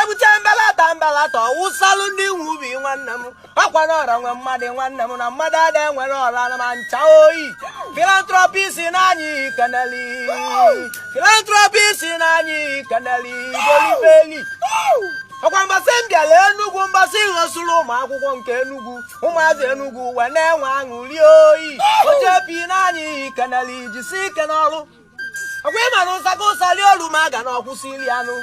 ebute mbelata mbelata ọwụsalụ ndị nwe ubi nwanne m ọkwa na ọra nwe mmadụ nwanne m na mmadụ ada enwere ọra na ma ncha oyi filantropist n'anyị keneli filantropist n'anyị keneli golibeli ọkwa mbọsị m bịara enugwu mbọsị ị ghọsụrụ ụmụ akwụkwọ nke enugwu ụmụazị enugwu wee na-enwe aṅụli oyi ochepi n'anyị keneli jisi ike n'ọrụ ọkwa ị mara ụsa ka ụsa lie olu ma a ga na ọkwụsị iri anụ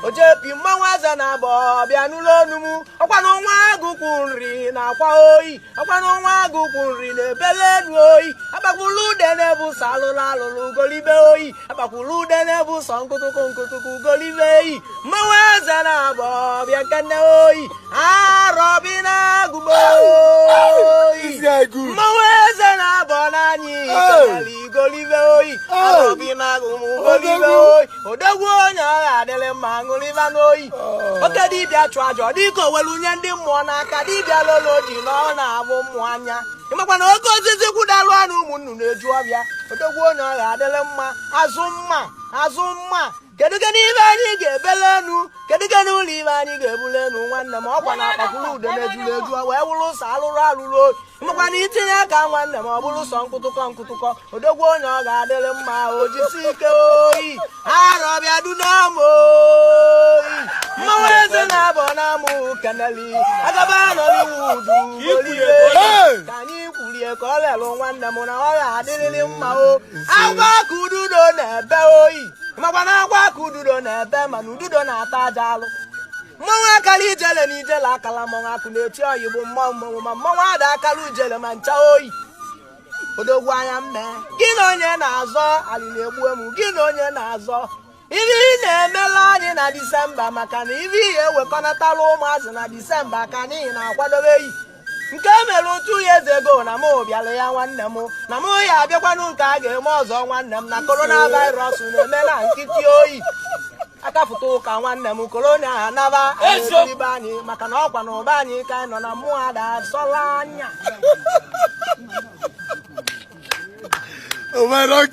ojepi mmanwụ eze na-abọ bịa n'ụlọ onu m ọkwa na nwa agụ kpụ nri na-akwa oyi ọkwa na nwa agụ kpụ nri na-ebele enu oyi akpakwulu ude na-ebu sọ alụlụ alụlụ golibe oyi akpakwulu ude na-ebu sọ nkụtụkụ nkụtụkụ golibe eyi mmanwụ eze na-abọ bịa kene oyi odogwu onye ọ ga-adịrị mma ṅụrịba n'oyi oh. oke dibịa chụ aja ọ dịka o welu nye ndị mmụọ n'aka dibịa lolo ji na ọ na-ahụ mmụọ anya ịmakwa na oke osisi kwụdalụ ana ụmụ nnụnụ eju ọfịa odogwu onye ọ ga-adịrị mma azụ mma azụ mma kedu kedu ibe anyị ga-ebele enu kedu kedu ụlọ ibe anyị ga-ebule enu nwanne m ọkwa na akpakwuru ude na-ejuru eju wee wụrụ sọ alụrụ alụrụ oyi makwa na itinye aka nwanne m ọ bụrụ sọ nkụtụkọ nkụtụkọ odogwu onye ọ ga-adịrị mma o jisi ike oyi arọbịa du n'ama oyi mmanwụ eze na-abọ n'ama keneli agaba nollywood golibe ka anyị kwurie ka ọ lelụ nwanne m na ọ ga-adịrịrị mma o akwa ka ududo na-ebe oyi makwa na akwa ka ududo na-ebe mana ududo na-ata aja alụ mmanwụ akala ijele na ijele akala mmanwụ akụ na-eti oyi bụ mmanwụ mmanwụ ma mmanwụ ada akala ijele ma ncha oyi odogwu anya mme gị na onye na-azọ alịla egbue m gị na onye na-azọ ife ị na-emela anyị na disemba maka na ibe ihe ewekọnatala ụmụazị na disemba ka anyị na-akwadobe eyi nke e mere two years ago na m bịara ya nwanne m na m ya abịakwanụ nke a ga-eme ọzọ nwanne m na korona virus na-eme na nkịtị oyi akafụta ụka nwanne m korona anaba ibe anyị maka na ọkwa na ụba anyị ka anyị nọ na mmụọ ada asọla anya Oh, my rock,